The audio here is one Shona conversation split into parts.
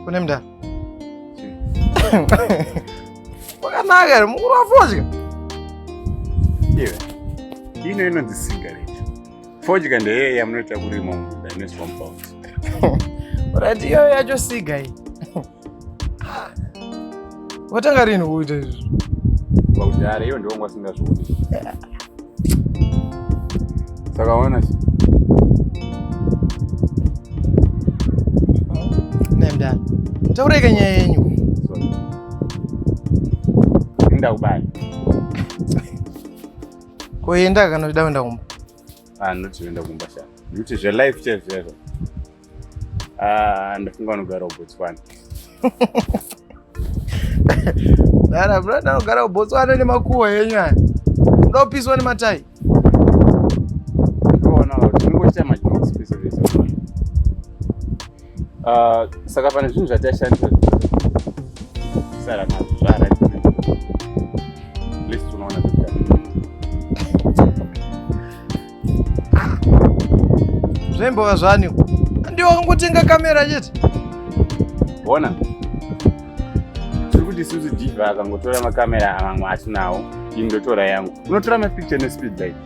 Kunemda. Wakanaka, mukuru wafodya. Iwe. Ino inonzi cigarette. Fodya ndeye yamunoita kurima munda ine compound. Right, iyo yacho siga iyi. Watanga rini kuita izvi? Pakudhara iyo ndiwo ngwasingazvioni. Saka ona si. Nemdana. Taureka nyaya yenyu. Sorry. Inda kubaya. Koenda kana uchida kuenda kumba. Ah, not kuenda kumba sha. Nekuti zve life chaizo chaizo. Ah, ndafunga unogara kuBotswana. Dara, bro, ndinogara kuBotswana nemakuwa yenyu aya. Unoda kupiswa nematai? uh, saka pane zvinhu zvatashandisa sara nazvo zvara list unoona zvembova zvani ndiwo kungotenga kamera chete bona tiri kuti isusu diva akangotora makamera amamwe atinawo indotora yangu unotora mapicture nespeed like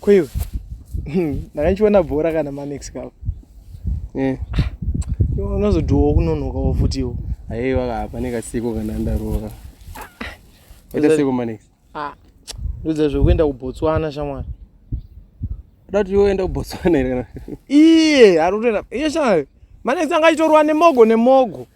Koiwe. Ndakanchiona bhora kana manex kapo. Eh. Unozodhuwa kunonokawo futiwo. Aiwa hapa nekasiko kana ndaroka. Ita siko manex. Ah. Ndudza zvekuenda kuBotswana shamwari. Dati yoenda kuBotswana here kana? Iye, ari kutoenda. Iye shamwari. Manex angachitorwa nemogo nemogo.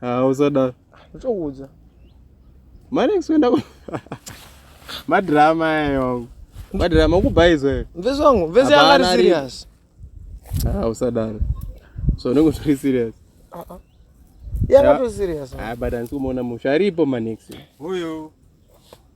Ah, usada. Ndichakuudza. Mari kuenda ku madrama ayo. Madrama ukubhaizo ere? Mvezi wangu, mvezi yanga ari serious. Ah, usadaro. So unenge usiri serious. Ah ah. Yanga to serious. Ah, but andisi kumuona musha aripo manix. Huyo.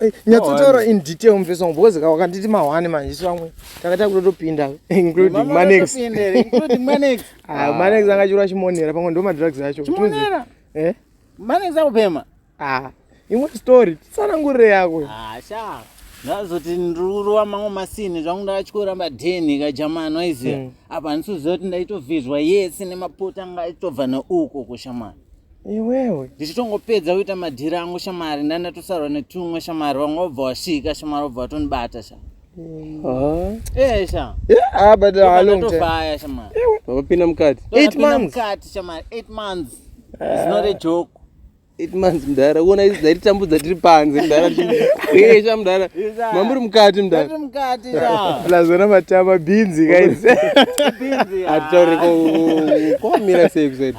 Eh, nyatsotaura in detail mufesi wangu because ka wakanditi mahwani manje isu vamwe takaita kutotopinda including manex ah, manex anga chirwa chimonera pamwe ndo madrugs acho eh? manex akupema ah, imwe story tsanangurire yako ah, ndazoti ndirurova mamwe masini zvangu ndakachikworamba deni kajamani waiziva hmm. apa handisiziva kuti ndaitovhizwa yese nemapota anga aitobva neuko kushamani iwewe ndichitongopedza kuita madhiri angu shamari ndandatosarwa netumwe shamari vamwe vabva vasvika shamari vabva vatonibata sha eh sha ah but a long time tofaya shamari vakapinda mukati 8 months mukati shamari 8 months it's not a joke eight months mdara uona izi dzaititambudza tiri panze mdara esha mdara mamuri mukati mdaraplasona matama bhinzi kaizatitaureko kwamira sei kusaidi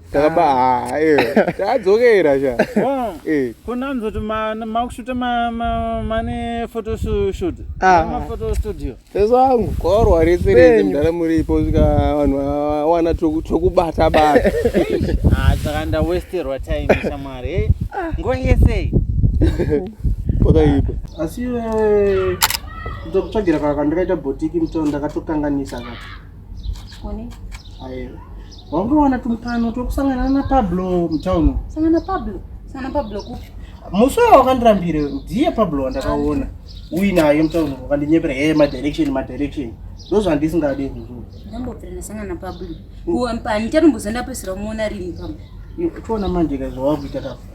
takaba ah. ah, eh. tadzokera sha oh. eh. kunanzoti makushuta mane photoshut ah. maphoto studio teso angu korwa rese rese mudhara muripo svika vanhu vawana twekubata bata saka ndawesterwa time shamwari nguva yesei pakaipa asi kutokutsvagira kaka ndakaita botiki mutoo ndakatokanganisa kaka One. Ayo. Wangowana tumukano twekusangana na Pablo mutown. Sangana Pablo. Sangana Pablo kupi? Musi wao wakandirambira ndiye Pablo wandakaona. Uyi naye mutown wakandinyepera hey my direction my direction. Ndozvandisingade izvozvo. Ndambopera ndasangana Pablo. Kuwa mpani tatombozenda pesera muona rini Pablo. Iwe, Toona manje ka zvawakuita ka.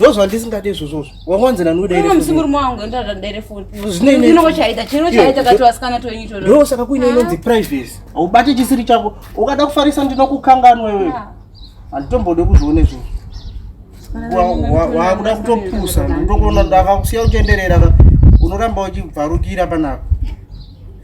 ndozvandisingade izvozvozvo wawanzi naniudamusimurume wangu endaadaerefoninoochaita chino chaita kati vasikana twenyu to ndo saka kuine inonzi privacy haubate chisiri chako ukada kufarisa ndinokukanganwa iwe ah. handitombode kuzvione zvinhu wakuda kutopusa ndokuona ndakakusiya uchenderera unoramba uchibvarukira panapa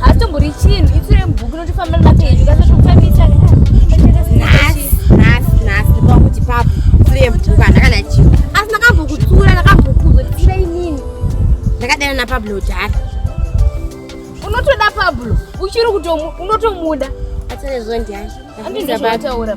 hatombori chinhu itsu remubhuku notifamba nemapeji kasatokufambisa nhasi nhasi nhasi pakuti papo itsu remubhuku andakana chinhu asi ndakambokutsura ndakambokuzo tira inini ndakadana napablo jari unotoda pablo uchiri kutomu unotomuda atarezondiani andizvataura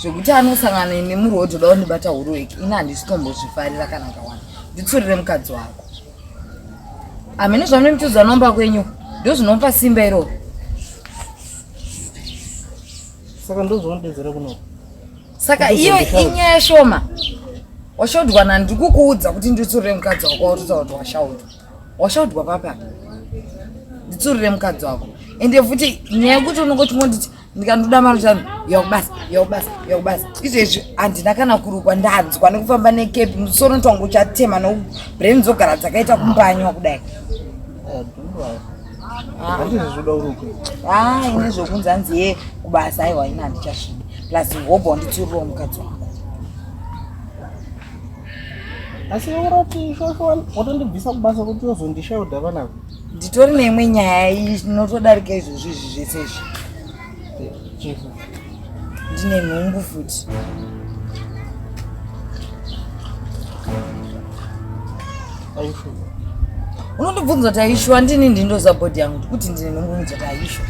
zvekuti anosangana ine muruo dzoda kundibata huruweki ini handisitombozvifarira kana kawana nditsurire mukadzi wako hamene zvamunemitidzwa nomba kwenyu ndo zvinopa simba iroro saka ndozvaunodedzera kuno saka iyo inyaya shoma washaudwa na ndikukuudza kuti nditsurire mukadzi wako watotaura kuti washaudwa washaudwa papa nditsurire mukadzi wako ende futi nyaya yekuti unongoti monditi ndikanoda mari zvanhu yakubasa yakubasa yakubasa izvezvi handina kana kurukwa ndanzwa nekufamba nekepi musoro tonga uchatema no brain dzogara dzakaita kumbanywa kudai ah. ah, ine zvokunzi hanzi ye kubasa aiwa ine handichasvidi plus hobho wanditsiuriwo mukadzi wako asi urati ishosho watondibvisa kubasa kuti ozondishaudha vanavo nditori neimwe nyaya inotodarika izvozvo izvi zvese izvi ndine nhumbu futi unondibvunza kuti aishu andini ndindoziva bhodhi yangu kuti ndine nhumbu mudzati aishu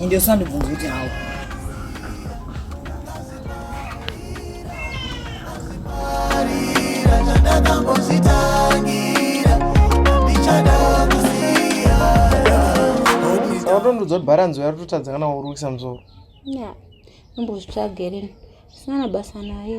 ende usandibvunza kuti hawo unotondiudza kuti bharanzi uya rototadza kana waurukisa musoro imbozvitsvagerini sina na basa naye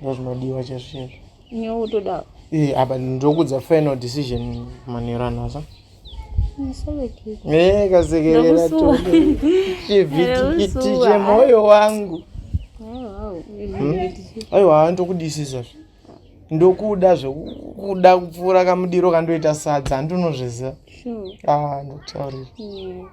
ndozvinodiwa chezvo chezvo nyewo utodawo eh, apa ndokudza final decision manero anoza eh, kasekerera chivhitikiti chemoyo wangu aiwa hmm? ndokudisisa zve ndokuda zvekuda kupfuura kamudiro kandoita sadza handinozviziva ah, ndokutaurira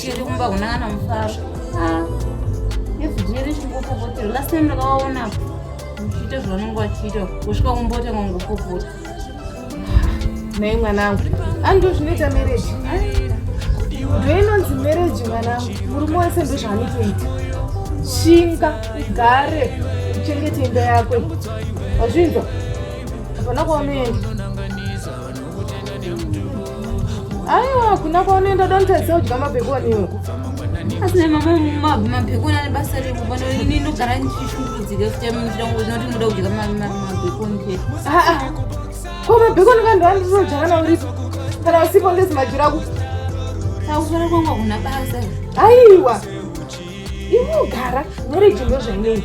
Chiri kumba kuna ana mufaro. Ah. Yesu jeri chingopopotera. Last time ndakaona kuchiita zvavanenge vachiita kusvika kumbota kwangopopota. Nei mwanangu. Andu zvinoita marriage. Ndinonzi marriage mwanangu. Murume wese ndozvaanotoita. Shinga ugare uchengete imba yako. Wazvinzwa? Hapana kwaunoenda. aiwa kuna kwaunoenda dontaisa udya mabhekoniwo asina mabhekoni ane basa rekuvana ini ndogara ndichishungurudzika kuchamuiranoti muda kudya mabhekoni chete ko mabhekoni vanhu vandizodyaka nauripo kana usipo ndezimajira ku akufana kwanga kuna basa aiwa inogara marriage ndozvainei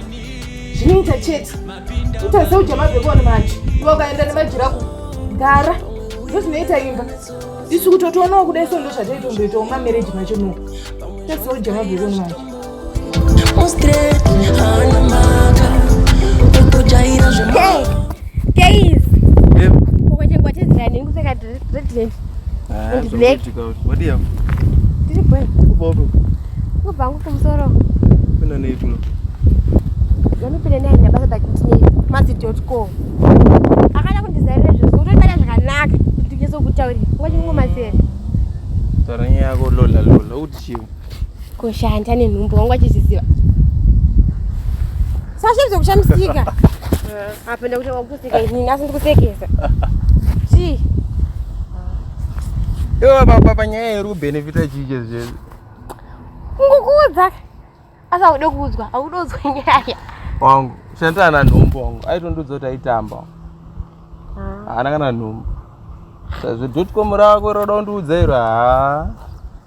zvinoita chete utaze uja mabheboni macho iwe ukaenda nemajira ku gara ndozvinoita imba isu kuti otoonawo kudai so ndozvataitomboitawo mamarriage macho no utaze uja mabheboni macho Guys, hey. uko chengwa chezirani ndikupfeka red akada kundizairira zvese utoibata zvakanaka ndikizokutaurira ngwachingomazera taura nyaya yako lola lola uti chiwo kushanda nenhumbu wangu achizviziva sashe zvekushamisika apenda kuti Ini asi ndikusekesa. Chii? Yo baba panyaya iri kubenefita chii chese chese. Ngokuudza. Asi aude kuudzwa, aude kuudzwa nyaya. Wangu, shandira na nhumbu wangu. Aitondiudza kuti aitamba. Ah. Haana kana nhumbu. Sazvo dotcom rako roda kundiudza iro. Haa.